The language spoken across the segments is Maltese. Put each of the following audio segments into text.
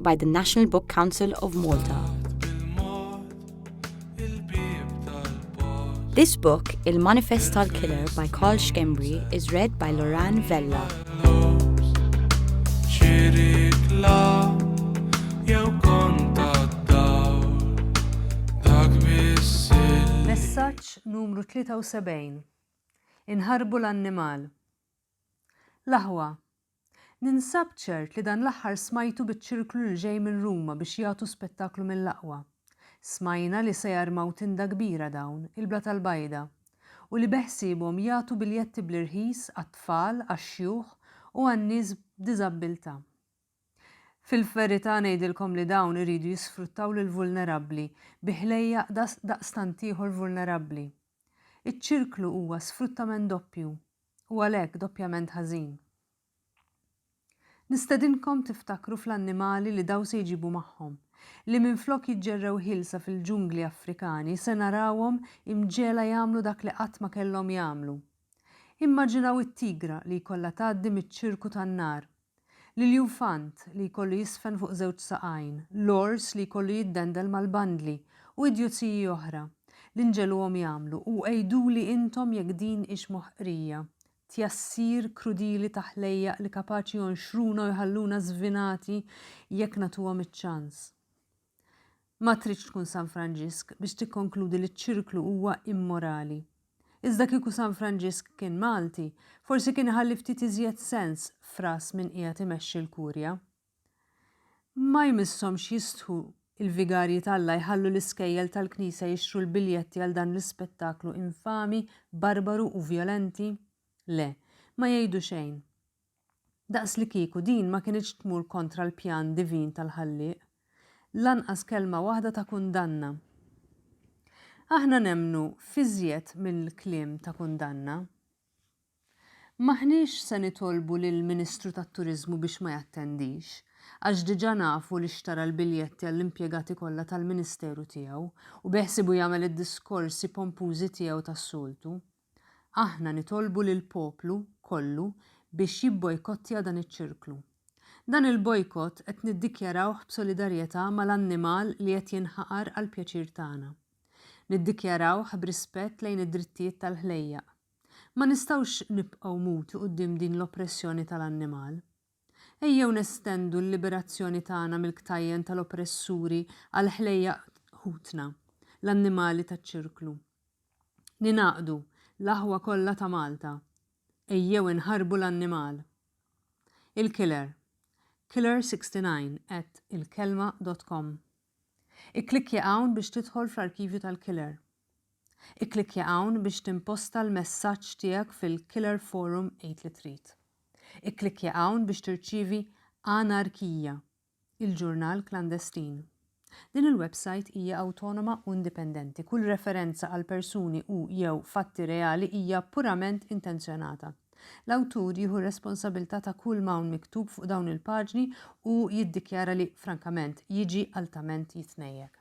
by the National Book Council of Malta. This book, Il Manifest tal Killer by Carl Schembri, is read by Loran Vella. Messaġġ numru 73. Inħarbu l-annimal. L-aħwa, Ninsab ċert li dan l-aħħar smajtu biċ-ċirklu li ġej minn Ruma biex jagħtu spettaklu mill-aqwa. Smajna li se jarmaw tinda kbira dawn, il-bla tal-bajda, u li beħsiebhom jagħtu biljetti bl-irħis għat-tfal, għax-xjuħ u għan-nies b'diżabbiltà. Fil-verità ngħidilkom li dawn iridu jisfruttaw lill-vulnerabbli bi ħlejjaq daqstant ieħor vulnerabbli. Iċ-ċirklu huwa sfruttament doppju u għalhekk doppjament ħażin. Nistedinkom tiftakru fl-annimali li daw se jġibu magħhom, li minflok jiġġerrew ħielsa fil-ġungli Afrikani se narawhom imġegħla jagħmlu dak li qatt ma kellhom jagħmlu. Immaġinaw it-tigra li jkollha tgħaddi miċ-ċirku tan-nar L-iljufant li jkollu jiżfen fuq żewġ saqajn, l-ors li jkollu jiddendel mal-bandli, u idjozziji oħra. L-inġeluhom jagħmlu, u għiduli intom jekk din hix moħqrija, tjassir krudili ta' ħlejjaq li kapaċi jonxruna u jħalluna żvinati jekk nagħtuhom iċ-ċans. Ma tridx tkun San Franġisk biex tikkonkludi li ċ-ċirklu huwa immorali. Iżda kieku San Franġisk kien Malti, forsi kien iħalli ftit iżjed sens f'ras min qiegħed imexxi l-Kurja. Ma jmisshomx jistħu il-vigarji t'Alla jħallu l-iskejjel tal-Knisja jixtru l-biljetti għal dan l-ispettaklu infami, barbaru u vjolenti? Le, ma jgħidu xejn. Daqslikieku din ma kinitx tmur kontra l-pjan divin tal-Ħallieq. Lanqas kelma waħda ta' kundanna. Aħna nemmnu f'iżjed minn kliem ta' kundanna. M'aħniex se nitolbu lill-Ministru tat-Turiżmu biex ma jattendix, għax diġà nafu li xtara l-biljetti għall-impjegati kollha tal-Ministeru tiegħu u beħsiebu jagħmel id-diskorsi pompużi tiegħu tas-soltu. Aħna nitolbu lill-poplu kollu biex jibbojkottja dan iċ-ċirklu. Dan il-bojkott qed niddikjarawh b'solidarjetà mal-annimal li qed jinħaqar għall-pjaċir tagħna. Niddikjarawh b'rispett lejn id-drittijiet tal-ħlejjaq. Ma nistgħux nibqgħu muti quddiem din l-oppressjoni tal-annimal. Ejjew nestendu l-liberazzjoni tagħna mill-ktajjen tal-oppressuri għall-ħlejjaq ħutna, l-annimali taċ-ċirklu. Ningħaqdu, l-aħwa kollha ta' Malta. Ejjew inħarbu l-annimal. Il-Killer, Killer69 at ilkelma dot com. Ikklikkja hawn biex tidħol fl-arkivju tal-Killer. Ikklikkja hawn biex timposta l-messaġġ tiegħek fil-Killer Forum Għid li Trid. Ikklikkja hawn biex tirċievi Anarkija, il-ġurnal klandestin. Din il-websajt hija awtonoma u indipendenti. Kull referenza għal persuni u, jew, fatti reali hija purament intenzjonata. L-awtur jieħu r-responsabilità ta' kull ma hawn miktub fuq dawn il-paġni u jiddikjara li, frankament, jiġi altament jitnejjek.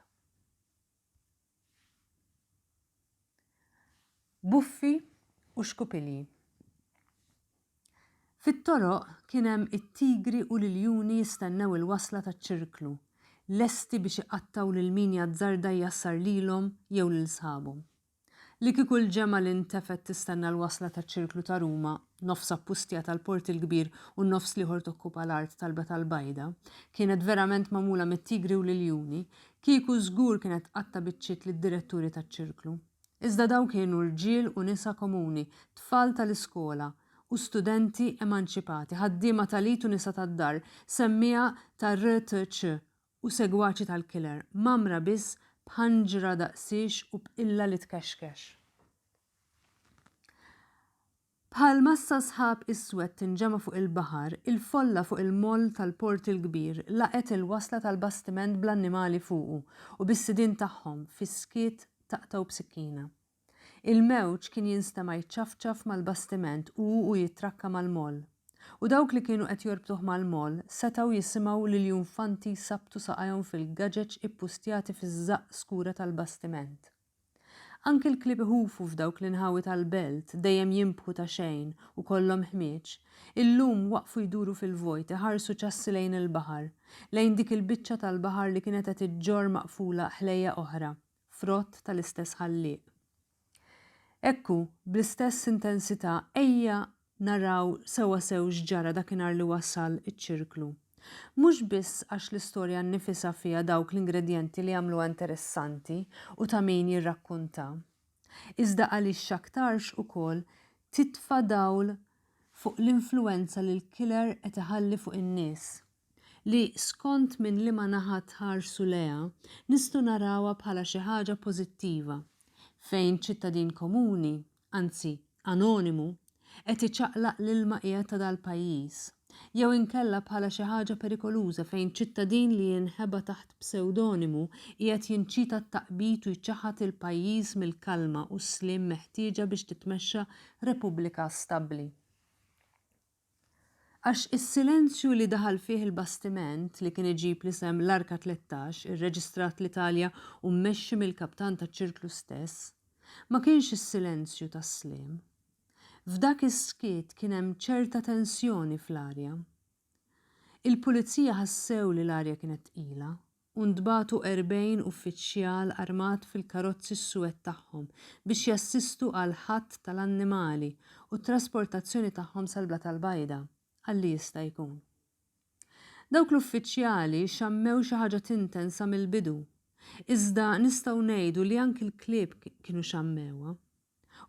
Buffi u xkupilji. Fit-toroq kien hemm it-tigri u l-iljuni jistennew il-wasla taċ-ċirklu, lesti biex iqattgħu lil min jazzarda jjassar lilhom jew lil sħabhom. Li kieku l-ġemgħa li ntefgħet tistenna l-wasla taċ-Ċirklu ta' Ruma, nofs appustjata l-Port il-Kbir u n-nofs l-ieħor tokkupa l-art tal-Belt Al-Bajda, kienet verament magħmula mit-tigri u l-iljuni, kieku żgur kienet tqatta' biċċiet lid-diretturi taċ-Ċirklu. Iżda dawn kienu rġiel u nisa komuni, tfal tal-iskola u studenti emanċipati, ħaddiema tal-id u nisa tad-dar, semmiegħa tar-RTC u segwaċi tal-killer, mgħammra biss b'ħanġra daqsiex u b'qilla li tkexkex. Bħal massa sħab iswed tinġema' fuq il-baħar, il-folla fuq il-moll tal-Port il-Kbir laqgħet il-wasla tal-bastiment bl-annimali fuqu u bis-sidien tagħhom fis-skiet taqtgħu b'sikkina. Il-mewġ kien jinstema' jiċċafċaf mal-bastiment u u jittrakka mal-moll. U dawk li kienu qed jorbtuh mal-moll setgħu jisimgħu lill-junfanti jsabtu saqajhom fil-gaġeġ ippustjati fiż-żaqq skura tal-bastiment. Anki l-klieb iħufu f'dawk l-inħawi tal-belt, dejjem jinbħu ta' xejn u kollhom ħmieġ, illum waqfu jduru fil-vojt iħarsu ċassi lejn il-baħar, lejn dik il-biċċa tal-baħar li kienet qed iġġorr maqfula ħlejjaq oħra, frott tal-istess Ħallieq. Ekku, bl-istess intensità ejja naraw sewwasew x'ġara dakinhar li wasal iċ-ċirklu. Mhux biss għax l-istorja nnifisha fiha dawk l-ingredjenti li jagħmluha interessanti u ta' min jirrakkunta, iżda għaliex x'aktarx ukoll titfa' dawl fuq l-influwenza li l-killer qed iħalli fuq in-nies. li skont minn liema naħa tħarsu lejha, nistgħu narawha bħala xi ħaġa pożittiva fejn ċittadin komuni, anzi anonimu, qed iċaqlaq l-ilma qiegħed ta' dal-pajjiż, jew inkella bħala xi ħaġa perikoluża fejn ċittadin li jinħeba taħt psewdonimu qiegħed jinċita t-taqbid u jċaħħad il-pajjiż mill-kalma u s-sliem meħtieġa biex titmexxa Repubblika stabbli. Għax is-silenzju li daħal fih il-bastiment li kien iġib l-isem l-Arka 13, irreġistrat l-Italja u mmexxi mill-kaptan taċ-ċirklu stess, ma kienx is-silenzju tas-sliem. F'dak is-skiet kien hemm ċerta tensjoni fl-arja. Il-pulizija ħassew li l-arja kienet tqila u ntbagħtu 40 uffiċjal armat fil-karozzi s-suwed tagħhom biex jassistu għall-ħatt tal-annimali u t-trasportazzjoni tagħhom sal-Blat Albajda, għalli jista' jkun. Dawk l-uffiċjali xammew xi ħaġa tinten sa mill-bidu, iżda nistgħu ngħidu li anki l-klieb kienu xammewha.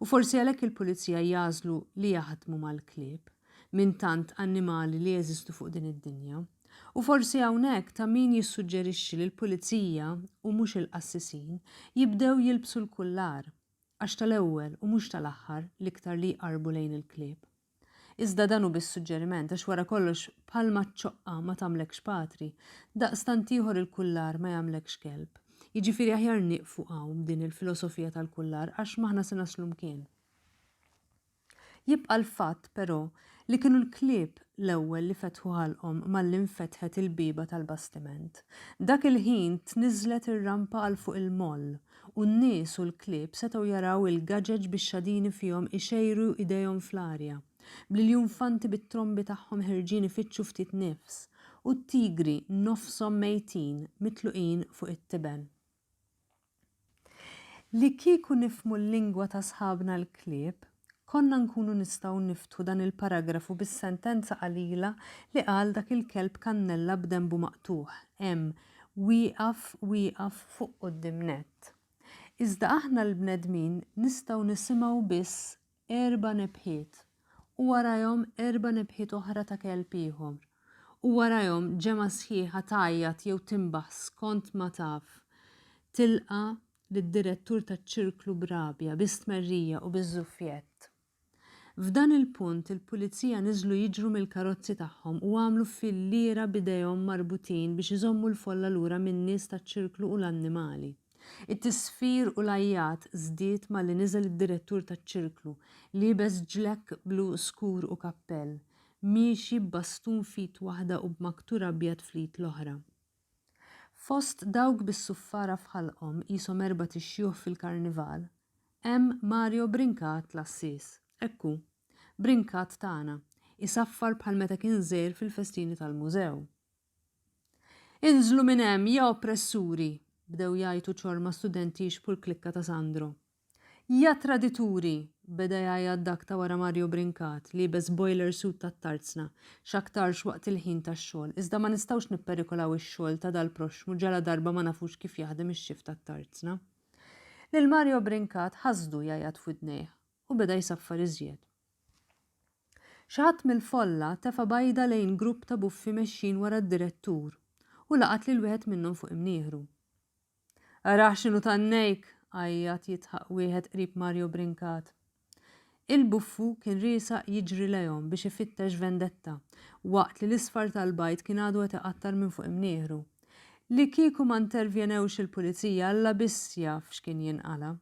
U forsi għalhekk il-pulizija jagħżlu li jaħdmu mal-klieb, minn tant annimali li jeżistu fuq din id-dinja. U forsi hawnhekk ta' min jissuġġerixxi li l-pulizija, u mhux il-qassisin, jibdew jilbsu l-kullar, għax tal-ewwel u mhux tal-aħħar l-iktar li jqarrbu lejn il-klieb. Iżda dan hu biss suġġeriment, għax wara kollox bħalma ċ-ċoqqa ma tagħmlekx patri, daqstant ieħor il-kullar ma jagħmlekx kelb. Jiġifieri aħjar nieqfu hawn b'din il-filosofija tal-kullar għax m'aħna se naslu mkien. Jibqa' l-fatt, però, li kienu l-klieb l-ewwel li fetħu ħalqhom malli nfetħet il-bieba tal-bastiment. Dak il-ħin tniżżlet ir-rampa għal fuq il-moll u n-nies u l-klieb setgħu jaraw il-gaġeġ bix-xadini fihom ixejru idejhom fl-arja, bl-iljunfanti bit-trombi tagħhom ħerġin ifittxu ftit nifs, u t-tigri nofshom mejtin mitluqin fuq it-tiben. Li kieku nifhmu l-lingwa ta' sħabna l-klieb, Konna nkunu nistgħu niftħu dan il-paragrafu bis-sentenza qalila li qal dak il-kelb kannella b'denbu maqtugħ, hemm, wieqaf, wieqaf fuq quddiem nett. Iżda aħna l-bnedmin nistgħu nisimgħu biss erba' nebħiet, u warajhom erba' nebħiet oħra ta' kelb ieħor, u warajhom ġemgħa sħiħa tgħajjat jew tinbaħ skont ma taf, tilqa' lid-direttur taċ-ċirklu b'rabja, bi stmerrija u biż-żuffjett. F'dan il-punt il-pulizija niżlu jiġru mill-karozzi tagħhom u għamlu fil-lira b'idejhom marbutin biex iżommu l-folla lura min-nies taċ-ċirklu u l-annimali. It-tisfir u l-għajjat żdied malli niżel id-direttur taċ-ċirklu, liebes ġlekk blu skur u kappell, miexi b'bastun f'id waħda u b'maktur abjad fl-id l-oħra. Fost dawk bis-suffara f'ħalqhom qishom erbat ix-xjuħ fil-Karnival, hemm Mario Brincat l-għassies. Hekk hu. Brincat tagħna. Isaffar bħal meta kien żgħir fil-festini tal-Mużew. Inżlu minn hemm, ja oppressuri! bdew jgħajtu ċorma studenti jixbħu l-klikka ta' Sandro. Ja tradituri! beda jgħajjat dak ta' wara Mario Brincat, liebes boiler suit tat-tarzna, x'aktarx waqt il-ħin tax-xogħol, iżda ma nistgħux nipperikolaw ix-xogħol ta' dal-proxxmu ġaladarba ma nafux kif jaħdem ix-xift tat-tarzna. Lil Mario Brincat ħasdu jgħajjat f'widnejh u beda jsaffar iżjed. Xi ħadd mill-folla tefa' bajda lejn grupp ta' buffi mexjin wara d-direttur u laqat lil wieħed minnhom fuq imnieħru. Arah x'inhu tannejk! għajjat jidħaq wieħed qrib Mario Brincat. Il-buffu kien riesaq jiġri lejhom biex ifittex vendetta, waqt li l-isfar tal-bajd kien għadu qed iqattar minn fuq imnieħru. Li kieku ma ntervjenewx il-pulizija Alla biss jaf x'kien jinqala'.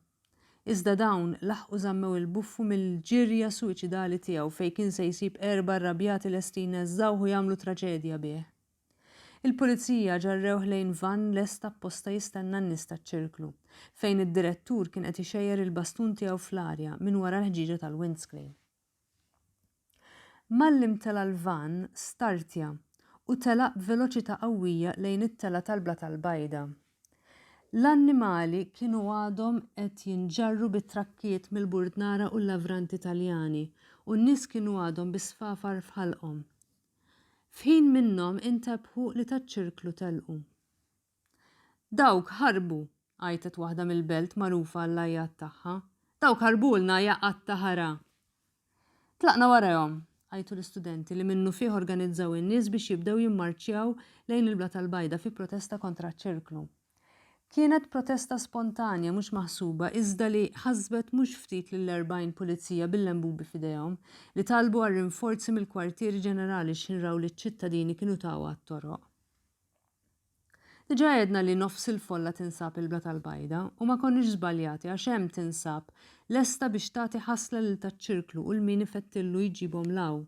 Iżda dawn laħqu żammew il-buffu mill-ġirja suwiċidali tiegħu fejn kien se jsib erba' rrabjati lesti jneżżgħuh u jagħmlu traċedja bih. Il-Pulizija ġarrewh lejn vann lest apposta jistenna n-nies taċ-ċirklu, fejn id-direttur kien qed ixejjer il-bastun tiegħu fl-arja minn wara l-ħġieġa tal-windscreen. Malli imtela' l-vann, startja u telaq b'veloċità qawwija lejn it-telgħa tal-Blat għall-Bajda. L-annimali kienu għadhom qed jinġarru bit-trakkijiet mill-burdnara u l-lavranti Taljani u n-nies kienu għadhom bis-sfafar f'ħalqhom. F'ħin minnhom intebħu li taċ-ċirklu telqu. Dawk ħarbu! għajtet waħda mill-belt magħrufa għall-għajjat tagħha. Dawk ħarbulna, ja qatt ta' ħara! Tlaqna warahom! għajtu l-istudenti li minnufih organizzaw in-nies biex jibdew jimmarċjaw lejn il-Blat Albajda fi protesta kontra ċ-ċirklu. Kienet protesta spontanja mhux maħsuba iżda li ħasbet mhux ftit lill-40 pulizija bil-lembubi f'idejhom li talbu għal rinforzi mill-kwartieri ġenerali x'inraw li ċ-ċittadini kienu tawha għat-toroq. Diġà għedna li nofs il-folla tinsab il-Bla tal-Bajda u ma konniex żbaljati għax hemm tinsab lesta biex tagħti ħasla lil taċ-ċirklu u l-min ifettillu jġibhom 'l hawn.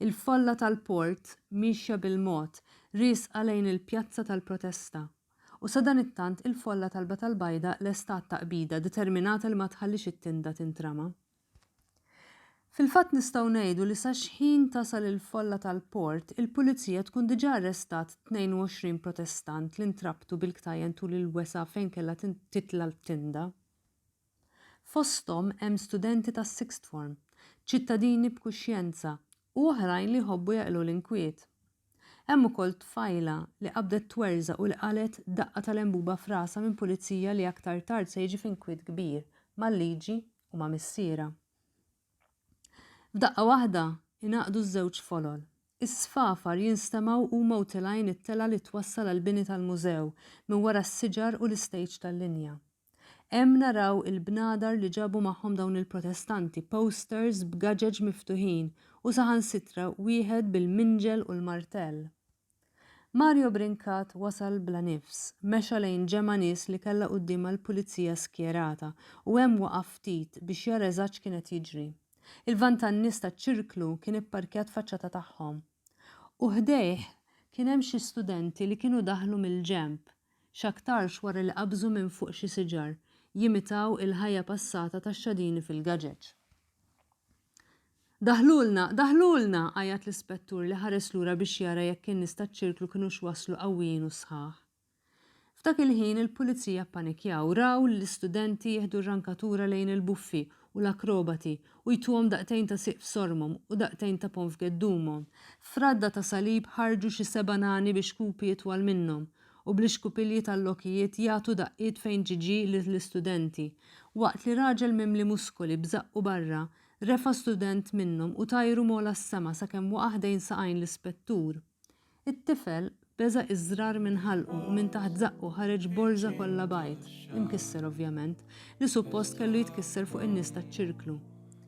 Il-folla tal-port miexja bil-mod, riesqa lejn il-pjazza tal-protesta. U sadanittant il-folla talbet għall-bajda lesta għat-taqbida, determinata li ma tħallix it-tinda tintrama. Fil-fatt nistgħu ngħidu li sa xħin tasal il-folla tal-port, il-pulizija tkun diġà arrestat 22 protestant li ntrabtu bil-ktajjen tul il-wesgħa fejn kellha titla' t-tinda. Fosthom hemm studenti tas-sixth form, ċittadini b'kuxjenza u oħrajn li jħobbu jaqilgħu l-inkwiet. Hemm ukoll tfajla li qabdet twerżaq u li qalgħet daqqa ta' lenbuba f'rasha minn pulizija li aktar tard se jiġi f'inkwiet kbir mal-liġi u ma' missierha. F'daqqa waħda ingħaqdu ż-żewġ folol. Is-sfafar jinstemgħu u mgħutilgħin it-telgħa li twassal għall-bini tal-mużew minn wara s-siġar u l-istejġ tal-linja. Hemm naraw il-bnadar li ġabu magħhom dawn il-protestanti, posters b'gaġeġ miftuħin u saħansitra wieħed bil-minġel u l-martell. Mario Brincat wasal bla nifs, mexa lejn ġemgħa nies li kellha quddiemha l-pulizija skjerata u hemm waqaf ftit biex jara eżatt x'kien qed jiġri. Il-vann tan-nies taċ-ċirklu kien ipparkjat faċċata tagħhom. U ħdejh kien hemm xi studenti li kienu daħlu mill-ġenb, x'aktarx wara li qabżu minn fuq xi siġar, jimitaw il-ħajja passata tax-xadini fil-gaġeġ. Daħlulna! Daħlulna! għajjat l-ispettur li ħares lura biex jara jekk in-nies taċ-ċirklu kinux waslu qawwijin u sħaħ. F'dak il-ħin il-pulizija ppanikjaw, raw lill-istudenti jieħdu r-rankatura lejn il-buffi u l-akrobati u jtuhom daqtejn ta' siq f'sormhom u daqtejn ta' ponn f'geddumhom. F'radda ta' salib ħarġu xi seba' nani bixkupi itwal minnhom, u bl-ixkupilji tal-lokijiet jagħtu daqqiet fejn ġie ġie lill-istudenti, waqt li raġel mimli muskoli b'żaqqu barra, refa' student minnhom u tajru m'għola s-sema sakemm waqa' ħdejn saqajn l-ispettur. It-tifel, b'beża' iżżrar minn ħalqu u minn taħt żaqqu ħareġ borża kollha bajd, imkisser ovvjament, li suppost kellu jitkisser fuq in-nies taċ-ċirklu.